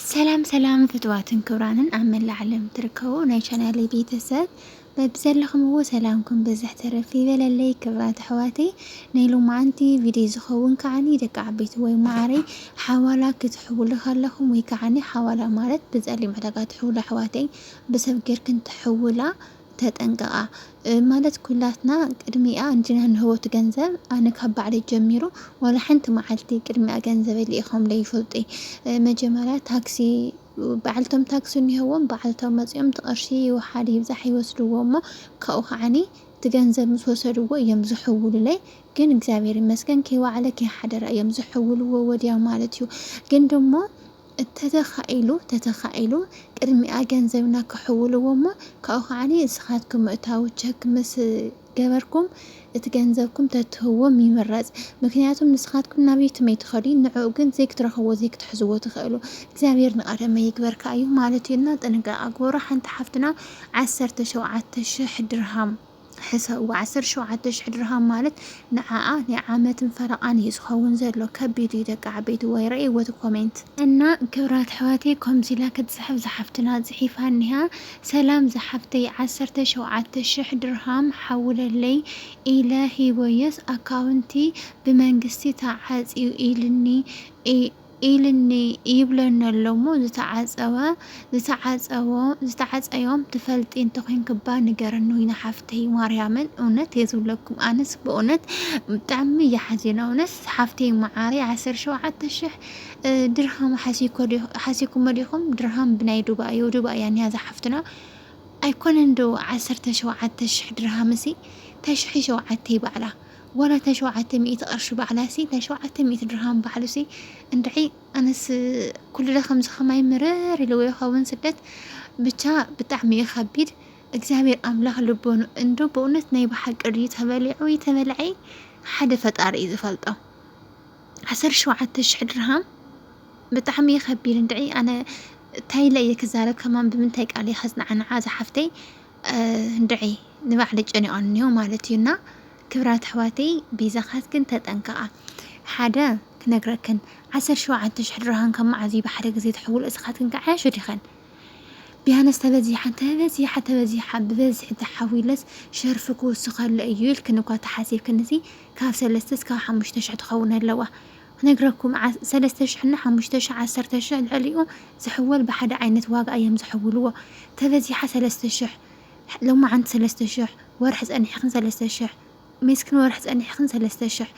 ሰላም ሰላም ፍትዋትን ክብራንን ኣብ መላእ ዓለም ትርከቡ ናይ ቻናል ቤተሰብ በብዘለኹምዎ ሰላምኩም ብዝሕ ተረፍ ይበለለይ። ክብራት ኣሕዋተይ ናይ ሎማዓንቲ ቪድዮ ዝኸውን ከዓኒ ደቂ ዓበይቲ ወይ ማዓረይ ሓዋላ ክትሕውሉ ከለኹም ወይ ከዓኒ ሓዋላ ማለት ብፀሊም ዕዳጋ ትሕውሉ ኣሕዋተይ ብሰብ ጌርክን ትሕውላ ተጠንቀቃ ማለት ኩላትና ቅድሚኣ እንጂና ንህቦት ገንዘብ ኣነ ካብ ባዕለይ ጀሚሩ ዋላ ሓንቲ መዓልቲ ቅድሚኣ ገንዘበይ ልኢኾም ለይፈልጡ መጀመርያ ታክሲ ባዕልቶም ታክሲ እኒሀዎም ባዕልቶም መፂኦም ትቐርሺ ይውሓድ ይብዛሕ ይወስድዎ እሞ ካብኡ ከዓኒ እቲ ገንዘብ ምስ ወሰድዎ እዮም ዝሕውሉለይ ግን እግዚኣብሔር ይመስገን ከይዋዕለ ከይሓደረ እዮም ዝሕውልዎ ወዲያው ማለት እዩ ግን ደሞ እተተኻኢሉ ተተኻኢሉ ቅድሚኣ ገንዘብና ክሕውልዎ እሞ ካብኡ ከኣ እስኻትኩም ምእታዉ ቸክ ምስ ገበርኩም እቲ ገንዘብኩም ተትህዎም ይምረጽ ምክንያቱም ንስኻትኩም ናብ የትመይ ትኸዱ ንዕኡ ግን ዘይክትረኽብዎ ዘይክትሕዝዎ ትኽእሉ እግዚኣብሔር ንቀደመ ይግበርካ እዩ ማለት እዩ እና ጥንቃቀ ግበሩ ሓንቲ ሓፍትና ዓሰርተ ሸውዓተ ሽሕ ድርሃም ሕሰብዎ ዓሰርተ ሸውዓተ ሽሕ ድርሃም ማለት ንዓኣ ናይ ዓመትን ፈረቃን እዩ ዝከውን ዘሎ ከቢድ እዩ ደቂ ዓበይቲ ዋይ ረእይዎ እቲ ኮሜንት። እና ክብራት ኣሕዋተይ ኮምዚ ኢላ ክትጽሕፍ ዝሓፍትና ጽሒፋ እኒሃ ሰላም ዝሓፍተይ ዓሰርተ ሸውዓተ ሽሕ ድርሃም ሓውለለይ ኢለ ሂበዮስ ኣካውንትይ ብመንግስቲ ተዓጽዩ ኢልኒ እይ ኢልኒ ይብለኒ ኣሎ እሞ ዝተዓጸወ ዝተዓጸዎ ዝተዓጸዮም ትፈልጢ እንተኮንኪባ ንገርኒ ዊና ሓፍተይ ማርያምን እውነት እየ ዝብለኩም ኣነስ በእውነት ብጣዕሚ እየ ሓዚና እውነት ሓፍተይ መዓረይ ዓሰርተ ሸውዓተ ሽሕ እ፣ ድርሃም ሓሲኮ ዲ- ሓሲኩሞ ዲኹም ድርሃም ብናይ ዱባይ እዩ ዱባይ እያ ኒያ ዝሓፍትና ኣይኮነን ዶ ዓሰርተ ሸውዓተ ሽሕ ድርሃምሲ ተሽሒ ሸውዓተ ይባዕላ ዋላ እታ ሸውዓተ ሚእቲ ቅርሺ ባዕላሲ እታ ሸውዓተ ሚእቲ ድርሃም ባዕሉሲ እንድዒ ኣነስ ኩሉለ ከምዚ ከማይ ምርር ኢልዎ ይከውን ስደት ብቻ ብጣዕሚ እዩ ከቢድ እግዚኣብሔር ኣምላክ ልቦኑ እንዶ በእውነት ናይ ብሓቂ ድዩ ተበሊዑ ወይ ተበልዐ ሓደ ፈጣሪ እዩ ዝፈልጦ ዓሰርተ ሸውዓተ ሽሕ ድርሃም ብጣዕሚ እዩ ከቢድ እንድዒ ኣነ እንታይ ኢለ እየ ክዛረብ ከማን ብምንታይ ቃል እየ ከጽናዕንዓ ዝሓፍተይ እንድዒ ንባዕለይ ጨኒቐኒ እኒሆ ማለት እዩ እና ክብራት ኣሕዋተይ ቤዛኻትክን ተጠንቀቓ ሓደ ክነግረክን ዓሰርተ ሸውዓተ ሽሕ ድርሃም ካብ መዓዝ እዩ ብሓደ ግዜ ትሕውሎ እስኻትክን ከዓያሹ ዲኸን ቢያነስ ተበዚሓን ተበዚሓ ተበዚሓ ብበዝሒ ተሓዊለስ ሸርፊ ክውስኸለ እዩ ኢልክን እኳ ተሓሲብክን እዚ ካብ ሰለስተ እስካብ ሓሙሽተ ሽሕ ትኸውን ኣለዋ ክነግረኩም ሰለስተ ሽሕ እና ሓሙሽተ ሽሕ ዓሰርተ ሽሕ ልዕሊኡ ዝሕወል ብሓደ ዓይነት ዋጋ ኣዮም ዝሕውልዎ ተበዚሓ ሰለስተ ሽሕ ሎማዓንቲ ሰለስተ ሽሕ ወርሒ ጸኒሕክን ሰለስተ ሽሕ ሜስክን ወርሒ ጸኒሕክን ሰለስተ ሽሕ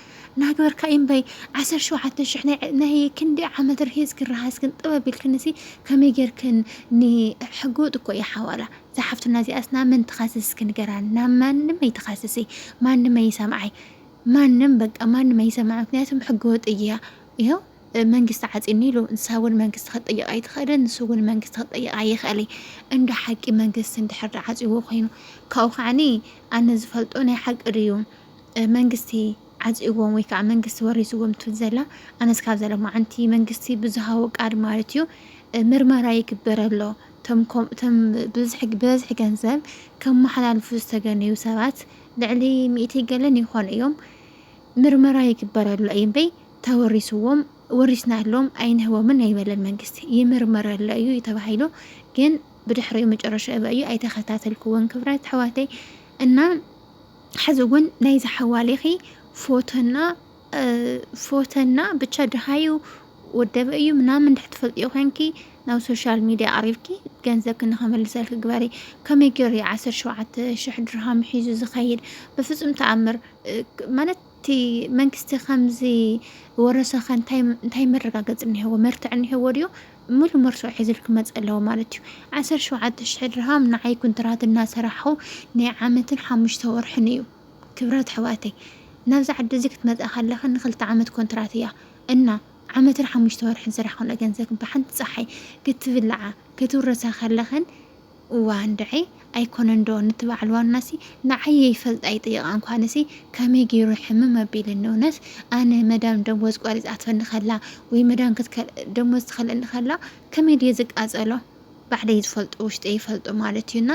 ናግበርካ ኢምበይ ዓሰርተ ሸውዓተ ሽሕ ናይ ናይ ክንዲ ዓመት ርሂጽክን ረሃጽክን ጥበብ ኢልክንሲ ከመይ ጌርክን ን ሕገወጥ እኮ ኢያ ሓዋላ እዛ ሓፍትና እዚኣስ ናብ መን ትኸስስ እስኪ ንገራኒ ናብ ማንም ኣይትኸስሲ ማንም ኣይሰምዓይ ማንም በቃ ማንም ኣይሰማዕ ምክንያቱም ሕገ ወጥ እያ ይኸው መንግስቲ ዓፂኒ ኢሉ ንሳ እውን መንግስቲ ክትጠይቕ ኣይትኽእልን ንሱ እውን መንግስቲ ክትጠይቕ ኣይኽእል እንዶ ሓቂ መንግስቲ እንድሕር ዳ ዓፅዎ ኮይኑ ካብኡ ከዓኒ ኣነ ዝፈልጦ ናይ ሓቂ ድዩ መንግስቲ ዓፂዎም ወይ ከዓ መንግስቲ ወሪስዎም ትብል ዘላ ኣነስ ካብ ዘለ መዓንቲ መንግስቲ ብዝሃቦ ቃል ማለት እዩ ምርመራ ይግበረሎ እቶም ብዝሒ ገንዘብ ከመሓላልፉ ዝተገነዩ ሰባት ልዕሊ ሚእቲ ገለን ይኾኑ እዮም ምርመራ ይግበረሉ እዩ እምበይ ተወሪስዎም ወሪስናሎም ኣይንህቦምን ኣይበለን መንግስቲ ይምርመረሉ እዩ ተባሂሉ ግን ብድሕሪኡ መጨረሻ እበ እዩ ኣይተኸታተልክዎን ክብረት ኣሕዋተይ እና ሕዚ እውን ናይዚ ሓዋሊኺ ፎቶና ፎተና ብቻ ድሃዩ ወደበ እዩ ምናምን እንድሕር ትፈልጥዮ ኮንኪ ናብ ሶሻል ሚድያ ኣሪብኪ ገንዘብኪ ንኸመልሰልኪ ግበሪ ከመይ ገይሩ እዩ ዓሰርተ ሸውዓተ ሽሕ ድርሃም ሒዙ ዝኸይድ በፍፁም ተኣምር እ፣ ክ- ማለት እቲ መንግስቲ ከምዚ ወረሰኸ እንታይ እንታይ መረጋገፂ እኒሄዎ መርትዕ እኒሄዎ ድዮ ሙሉ መርሶ ሒዙል ክመፅእ ኣለዎ ማለት እዩ ዓሰርተ ሸውዓተ ሽሕ ድርሃም ንዓይ ኩንትራት እናሰራሕኹ ናይ ዓመትን ሓሙሽተ ወርሕን እዩ ክብራት ኣሕዋተይ ናብዚ ዓዲ እዚ ክትመፃ ከለክን ንክልተ ዓመት ኮንትራት እያ እና ዓመትን ሓሙሽተ ወርሕን ዝሰራሕክንኦ ገንዘብ ብሓንቲ ፀሓይ ክትብላዓ ክትውረሳ ከለክን እዋ እንድዒ ኣይኮነን ዶ ንቲ በዓል ዋናሲ ንዓይ ይፈልጣ ይጥይቃ እንኳንሲ ከመይ ገይሩ ሕምም ኣቢልኒ እውነት ኣነ መዳም ደሞዝ ቆሪፃትፈኒ ከላ ወይ መዳም ክትከል ደሞዝ ትከልእኒ ከላ ከመይ ድየ ዝቃፀሎ ባዕለይ ዝፈልጦ ውሽጠይ ይፈልጦ ማለት እዩ እና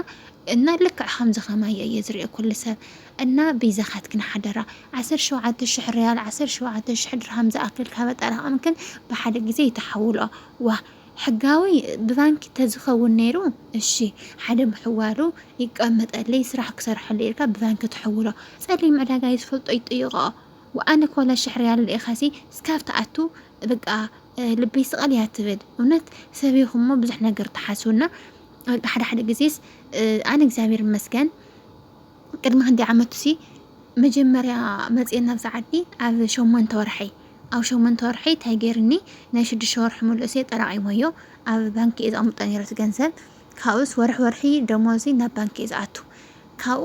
እና ልክዕ ከምዚ ከማየ እየ ዝሪኦ ኩሉ ሰብ እና በይዛካትክን ሓደራ ዓሰርተ ሸውዓተ ሽሕ ርያል ዓሰርተ ሸውዓተ ሽሕ ድርሃም ዝኣክል ካብ ኣጠራቀምክን ብሓደ ግዜ ይተሓውልኦ ዋእ ሕጋዊ ብባንኪ ተዝከውን ነይሩ እሺ ሓደ ምሕዋሩ ይቀመጠለይ ስራሕ ክሰርሐሉ ኢልካ ብባንኪ ትሕውሎ ጸሊም ዕዳጋ እዩ ዝፈልጦ ይጥይቆኦ ወኣነ ኮላ ሽሕ ርያል ልኢካሲ ስካብ ትኣቱ በቃ ልበይ ስቐል እያ ትብል እውነት ሰብ ኢኹም እሞ ብዙሕ ነገር ትሓስቡና በቃ ሓደ ሓደ ግዜስ ኣነ እግዚኣብሔር ይመስገን ቅድሚ ክንደይ ዓመቱ ሲ መጀመርያ መፅኤ ናብ ሰዓዲ ኣብ ሸሞንተ ወርሐይ ኣብ ሸሞንተ ወርሐይ እንታይ ገይርኒ ናይ ሽዱሽተ ወርሒ ምልእሰ ጠራቒሞዮ ኣብ ባንኪ እየ ዘቐምጦ ነይረ እቲ ገንዘብ ካብኡስ ወርሒ ወርሒ ደሞዚ ናብ ባንኪ እዩ ዝኣቱ ካብኡ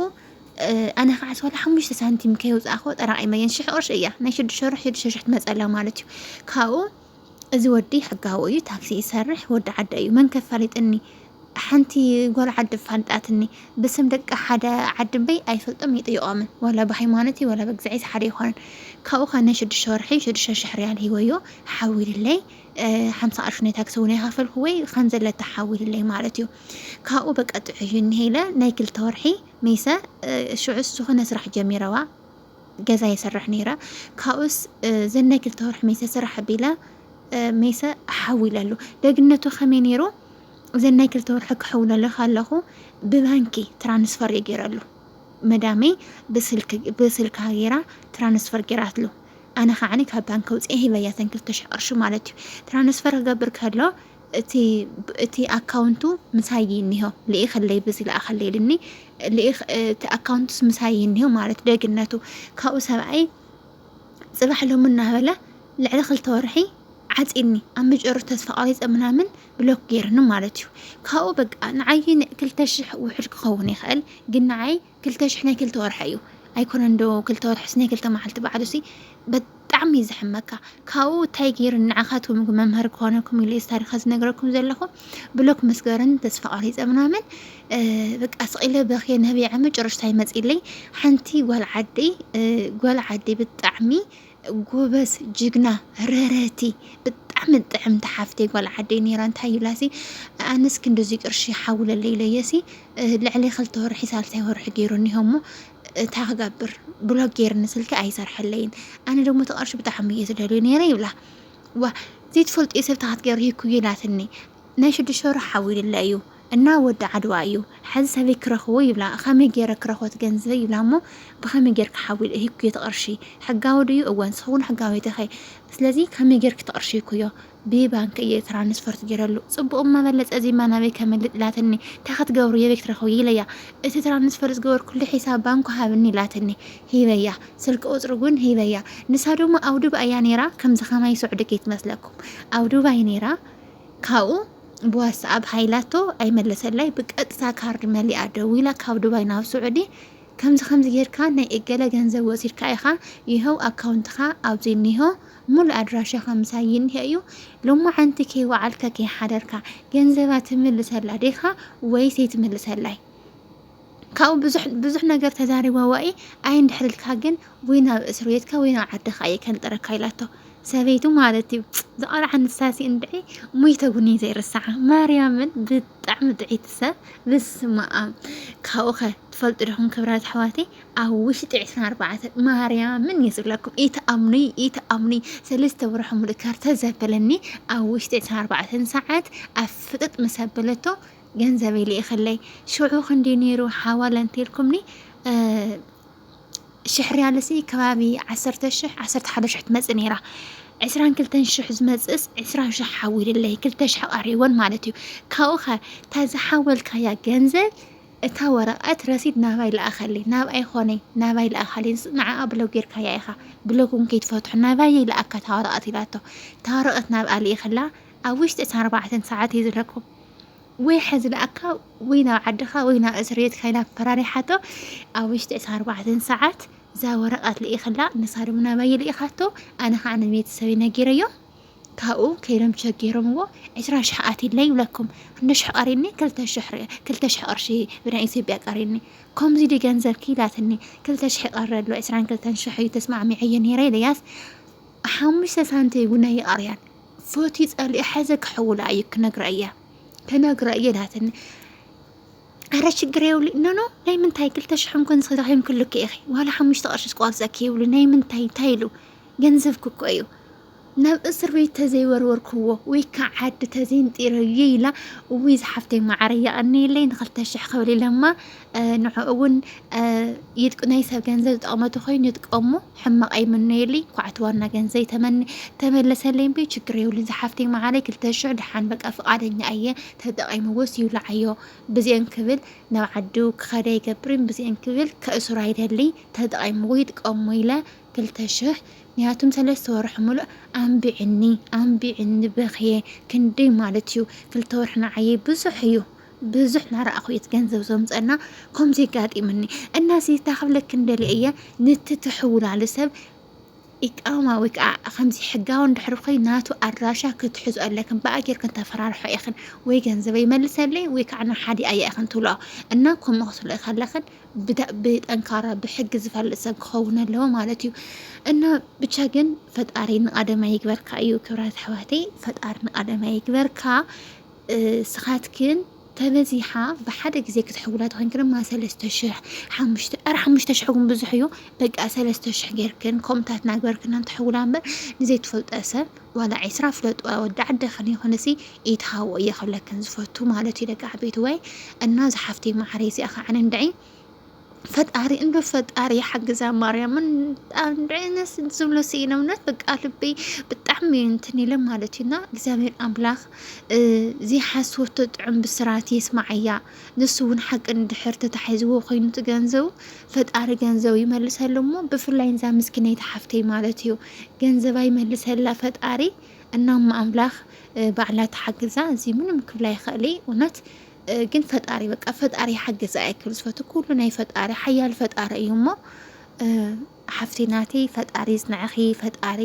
ኣነ ከዓ ዋላ ሓሙሽተ ሳንቲም ከየውፃእኹ ጠራቂመየን ሽሕ ቅርሺ እያ ናይ ሽዱሽተ ወርሒ ሽዱሽተ ሽሕ ትመፀላ ማለት እዩ ካብኡ እዚ ወዲ ሕጋዊ እዩ ታክሲ ይሰርሕ ወዲ ዓደ እዩ መን ከፋሊጥኒ ሓንቲ ጓል ዓዲ ፋልጣትኒ ብስም ደቂ ሓደ ዓዲ እምበይ ኣይፈልጦም ይጥይቖምን ዋላ ብሃይማኖት እዩ ዋላ ብእግዚኣብሔር ሓደ ይኾነን ካብኡ ከዓ ናይ ሽዱሽተ ወርሒ ሽዱሽተ ሽሕ ሪያል ሂወዮ ሓዊልለይ ሓምሳ ቅርሺ ናይ ታክሲ እውን ኣይኸፈልኩ ወይ ከምዘለታ ሓዊልለይ ማለት እዩ ካብኡ በቃ ጥዑይ እኒሀ ኢለ ናይ ክልተ ወርሒ መይሰ ሽዑስ ዝኾነ ስራሕ ጀሚረዋ ገዛ የሰርሕ ነይረ ካብኡስ ዘን ናይ ክልተ ወርሒ መይሰ ስራሕ ቢለ መይሰ ሓዊለሉ ደግነቱ ከመይ ነይሩ እዘን ናይ ክልተ ወርሒ ክሕውለልኽ ኣለኹ ብባንኪ ትራንስፈር እዩ ገይረሉ መዳመይ ብስልካ ገይራ ትራንስፈር ገይራትሉ ኣነ ከዓኒ ካብ ባንኪ ውፅኤ ሂበያ ተን ክልተ ሽሕ ቅርሺ ማለት እዩ ትራንስፈር ክገብር ከሎ እቲ እቲ ኣካውንቱ ምሳይ እዩ እኒሆ ልኢኸለይ ብዚ ልኣኸለይ ኢልኒ ልኢኽ እቲ ኣካውንቱስ ምሳይ እዩ እኒሆ ማለት ደግነቱ ካብኡ ሰብኣይ ፅባሕ ሎሚ እናበለ ልዕሊ ክልተ ወርሒ ዓፂኒ ኣብ መጨረቱ ተስፋ ቆሪፀ ምናምን ብሎክ ገይርኒ ማለት እዩ ካብኡ በቃ ንዓይ ክልተ ሽሕ ውሕድ ክኸውን ይኽእል ግን ንዓይ ክልተ ሽሕ ናይ ክልተ ወርሒ እዩ ኣይኮነን ዶ ክልተ ወርሕስ ናይ ክልተ መዓልቲ ባዕሉሲ ብጣዕሚ እዩ ዝሕመካ ካብኡ እንታይ ገይሩ ንዓኻትኩም መምህር ክኾነኩም ኢሉ ታሪኸ ዝነግረኩም ዘለኹ ብሎክ መስገርን ተስፋ ቆሪፀ ምናምን በቃ ስቂለ በክየ ነቢዐ መጨረሽታ ይመፅለይ ሓንቲ ጓል ዓደይ ጓል ዓደይ ብጣዕሚ ጎበዝ ጅግና ረረቲ ብጣዕሚ ጥዕምቲ ሓፍተይ ጓል ዓደይ ነይራ እንታይ ይብላሲ ኣነስ ክንዲዚ ቅርሺ ሓውለለይ ኢለየሲ ልዕሊ ክልተ ወርሒ ሳልሳይ ወርሒ ገይሩ እኒሆ እሞ እታ ክገብር ብሎ ገይርኒ ስልኪ ኣይሰርሐለይን ኣነ ደግሞ እቲ ቅርሺ ብጣዕሚ እየ ዝደልዮ ነይረ ይብላ ዋ ዘይትፈልጥዮ ሰብ ተካትገርሂኩ ኢላትኒ ናይ ሽዱሽተ ወርሒ ሓዊልለ እዩ እና ወዲ ዓድዋ እዩ ሐዚ ሰበይ ክረክቦ ይብላ ከመይ ገይረ ክረክቦ እቲ ገንዘበይ ይብላ እሞ ብከመይ ገይርካ ሓዊለ ሂብኩዮ እቲ ቅርሺ ሕጋዊ ድዩ እወ ንስክውን ሕጋወይቲ እከ ስለዚ ከመይ ገይርኪ እቲ ቅርሺ ሂብኩዮ ብባንኪ እየ ትራንስፈርት ገይረሉ ፅቡቅ እማ በለፀ እዚማ ናበይ ከምልጥ ኢላትኒ እንታይ ክትገብሩ የበይ ክትረክብዮ ኢለያ እቲ ትራንስፈር ዝገበርኩሉ ሒሳብ ባንኩ ሃብኒ ኢላትኒ ሂበያ ስልኪ ቁፅሪ እውን ሂበያ ንሳ ድማ ኣብ ዱባይ እያ ነይራ ከምዚ ከማይ ስዑዲ ከይትመስለኩም ኣብ ዱባይ ነይራ ካብኡ ብዋትስኣብ ሃይላቶ ኣይመለሰላይ ብቀጥታ ካርድ መሊኣ ደዊላ ካብ ዱባይ ናብ ስዑዲ ከምዚ ከምዚ ጌርካ ናይ እገለ ገንዘብ ወሲድካ ኢኻ ይኸው ኣካውንትኻ ኣብዚ እኒሆ ሙሉእ ኣድራሻኻ ምሳይ ይኒሀ እዩ ሎማዓንቲ ከይወዓልካ ከይሓደርካ ገንዘባ ትምልሰላ ዲኻ ወይስ ኣይትምልሰላይ ካብኡ ብዙሕ ብዙሕ ነገር ተዛሪባ ዋኢ ኣይ እንድሕርልካ ግን ወይ ናብ እስር ቤትካ ወይ ናብ ዓድኻ እየ ከንጥረካ ኢላቶ ሰበይቱ ማለት እዩ ዝቐልዓ ንሳሲ እንድዒ ሙይተ ጉኒ ዘይርሳዓ ማርያምን ብጣዕሚ ጥዒቲ ሰብ ብስመ ኣም ካብኡ ኸ ትፈልጡ ዲኹም ክብራት ኣሕዋተይ ኣብ ውሽጢ ዕስራን ኣርባዕተን ማርያምን እዩ ዝብለኩም ኢትኣምኑይ ኢትኣምኑይ ሰለስተ ወርሒ ሙሉእ ከርተ ዘበለኒ ኣብ ውሽጢ ዕስራን ኣርባዕተን ሰዓት ኣብ ፍጥጥ ምስ ኣበለቶ ገንዘበይ ልኢኽለይ ሽዑ ክንድዩ ነይሩ ሓዋላ እንተልኩምኒ ሽሕ ርያልሲ ከባቢ ዓሰርተ ሽሕ ዓሰርተ ሓደ ሽሕ ትመፅእ ነይራ ዕስራን ክልተን ሽሕ ዝመፅእስ ዕስራን ሽሕ ሓዊልለይ ክልተ ሽሕ ቀሪቦን ማለት እዩ ካብኡ ከ እታ ዝሓወልካያ ገንዘብ እታ ወረቐት ረሲድ ናባይ ለኣኸለይ ናብኣይ ኮነ ናባይ ለኣኻለይ ንዓኣ ብሎግ ጌርካያ ኢኻ ብሎግ እውን ከይትፈትሖ ናባይ ለኣካ እታ ወረቐት ኢላቶ እታ ወረቐት ናብኣ ልኢኽላ ኣብ ውሽጢ እታ ኣርባዕተ ሰዓት እዩ ዝረክቦ ወይ ሐዚ ለኣካ ወይ ናብ ዓድኻ ወይ ናብ እስር ቤት ካይና ፈራሪሓቶ ኣብ ውሽጢ እታ ኣርባዕተ ሰዓት እዛ ወረቐት ልኢኽላ ንሳ ድማ ናባየ ልኢኻቶ ኣነ ከዓ ንቤተሰበይ ነጊረዮም ካብኡ ከይዶም ቸክ ገይሮምዎ ዕስራ ሽሕ ኣትለይ ይብለኩም ክንዲ ሽሕ ቀሪኒ ክልተ ሽሕ ቅርሺ ብናይ ኢትዮጵያ ቀሪኒ ከምዚ ዲ ገንዘብ ክኢላትኒ ክልተ ሽሕ ይቀሪ ኣሎ ዕስራን ክልተን ሽሕ እዩ ተስማዕሚዐዮ ነይረ ኢለያስ ሓሙሽተ ሳንቲ እውን ኣይቀርያን ፈትዩ ጸሊኡ ሓዘ ክሕውላ እዩ ክነግራ እያ ክነግራ እየ ናትኒ ኣረ ችግር የብሉ ኖኖ ናይ ምንታይ ክልተ ሽሕ እንኮን ዝረኺም ክልክ ኢኺ ዋላ ሓሙሽተ ቅርሺ ስቋርፀኪ ይብሉ ናይ ምንታይ እንታይ ኢሉ ገንዘብ ክኮ እዩ ናብ እስር ቤት ተዘይወርወርክዎ ወይ ከዓ ዓዲ ተዘይንጢረዮ ኢላ እውይ ዝሓፍተይ ማዕረ የቐኒየለይ ንክልተ ሽሕ ክብል ኢለማ ንዕኡ ውን ይጥቅ ናይ ሰብ ገንዘብ ዝጠቕመ ተኾይኑ ይጥቀሙ ሕማቕ ኣይምነየልይ ኳዕቲ ዋና ገንዘይ ተመኒ ተመለሰለይ እምበይ ችግር የብሉን ዝሓፍተይ መዓረይ ክልተ ሽሕ ድሓን በቃ ፍቃደኛ እየ ተጠቒምዎስ ይብላዓዮ ብዚአን ክብል ናብ ዓዱ ክኸደ ይገብርን ብዚአን ክብል ከእሱር ኣይደልይ ተጠቒምዎ ይጥቀሙ ኢለ ክልተ ሽሕ ምክንያቱም ሰለስተ ወርሒ ሙሉእ ኣንቢዕኒ ኣንቢዕኒ በኽየ ክንደይ ማለት እዩ ክልተ ወርሒ ንዓየይ ብዙሕ እዩ ብዙሕ ናረኣኹ እየ ገንዘብ ዘምፀና ከምዚ የጋጢምኒ እና ሲታ ክብለክ እንደልየ እየ ንቲ ትሕውላሉ ሰብ ኢቃማ ወይ ከዓ ከምዚ ሕጋዊ እንድሕር ኮይ ናቱ ኣድራሻ ክትሕዙ ኣለክን ብኣ ጌርክን ተፈራርሖ ኢኽን ወይ ገንዘበ ይመልሰለይ ወይ ከዓ ንሓዲ ኣያ ኢኽን ትብልኦ እና ከምኡ ክትብልኦ ከለኽን ብጠንካራ ብሕጊ ዝፈልጥ ሰብ ክኸውን ኣለዎ ማለት እዩ እና ብቻ ግን ፈጣሪ ንቀደማ ይግበርካ እዩ ክብራት ኣሕዋተይ ፈጣሪ ንቀደማ ይግበርካ እስኻትክን ተበዚሓ ብሓደ ግዜ ክትሕውላ ተኾይንክን ድማ ሰለስተ ሽሕ ሓሙሽተ ኣር ሓሙሽተ ሽሕ እውን ብዙሕ እዩ በቃ ሰለስተ ሽሕ ጌርክን ከምታት ናግበርክናን ትሕውላ እምበር ንዘይትፈልጦ ሰብ ዋላ ዒስራ ፍለጡ ወዲ ዓደኽን ይኹንሲ ኢትሃቦ እየ ክብለክን ዝፈቱ ማለት እዩ ደቂ ዓበይቲ ወይ እና ዝሓፍተይ ማዓረይ እዚኣ ከዓ ንንድዒ ፈጣሪ እንዶ ፈጣሪ ሓግዛ ማርያም እንዳይነስ ዝብሎ ስኢነ እውነት በቃ ልበይ ብጣዕሚ እንትን ኢለ ማለት እዩና እግዚኣብሔር ኣምላኽ ዘይሓስወቶ ጥዑም ብስራት የስማዓያ ንሱ እውን ሓቂ ንድሕር ተታሒዝዎ ኮይኑ ገንዘቡ ፈጣሪ ገንዘቡ ይመልሰሉ እሞ ብፍላይ ንዛ ምስኪነይቲ ሓፍተይ ማለት እዩ ገንዘባ ይመልሰላ ፈጣሪ እናማ ኣምላኽ ባዕላ ተሓግዛ እዚ ምንም ክብላ ይኽእልይ እውነት ግን ፈጣሪ በቃ ፈጣሪ ይሓግዝ ኣይክል ዝፈቱ ኩሉ ናይ ፈጣሪ ሓያል ፈጣሪ እዩ እሞ ሓፍቲ ናተይ ፈጣሪ ይጽንዕኺ፣ ፈጣሪ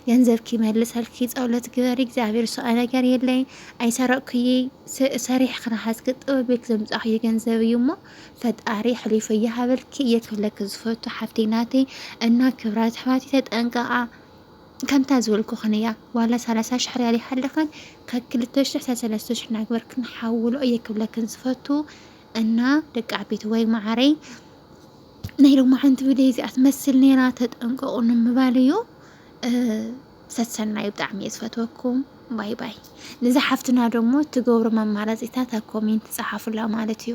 ገንዘብኪ ይመልሰልኪ፣ ጸሎት ግበሪ፣ እግዚኣብሔር ሰኣ ነገር የለይ፣ ኣይሰረቅኩይ ሰሪሕ ክነሓዝኪ ጥበብ ቤት ዘምጻኽዮ ገንዘብ እዩ እሞ ፈጣሪ ሕሊፎ እየሃበልኪ እየ ክብለኪ ዝፈቱ ሓፍቲ ናተይ እና ክብራት ኣሕዋተይ ተጠንቀቃ ከምታ ዝበልኩኽን እያ ዋላ ሰላሳ ሽሕ ርያል ይሃልኽን ካብ ክልተ ሽሕ ሳብ ሰለስተ ሽሕ ናግበርክን ሓውሎ እየ ክብለክን ዝፈቱ እና ደቂ ዓበይቲ ወይ ማዓረይ ናይ ሎማዓንቲ ቪድዮ እዚኣ ትመስል ነይራ ተጠንቀቑ ንምባል እዩ ሰሰናዩ ብጣዕሚ እየ ዝፈትወኩም ባይ ባይ ንዛ ሓፍትና ደሞ ትገብሮም ኣማራፂታት ኣብ ኮሜንት ፀሓፉላ ማለት እዩ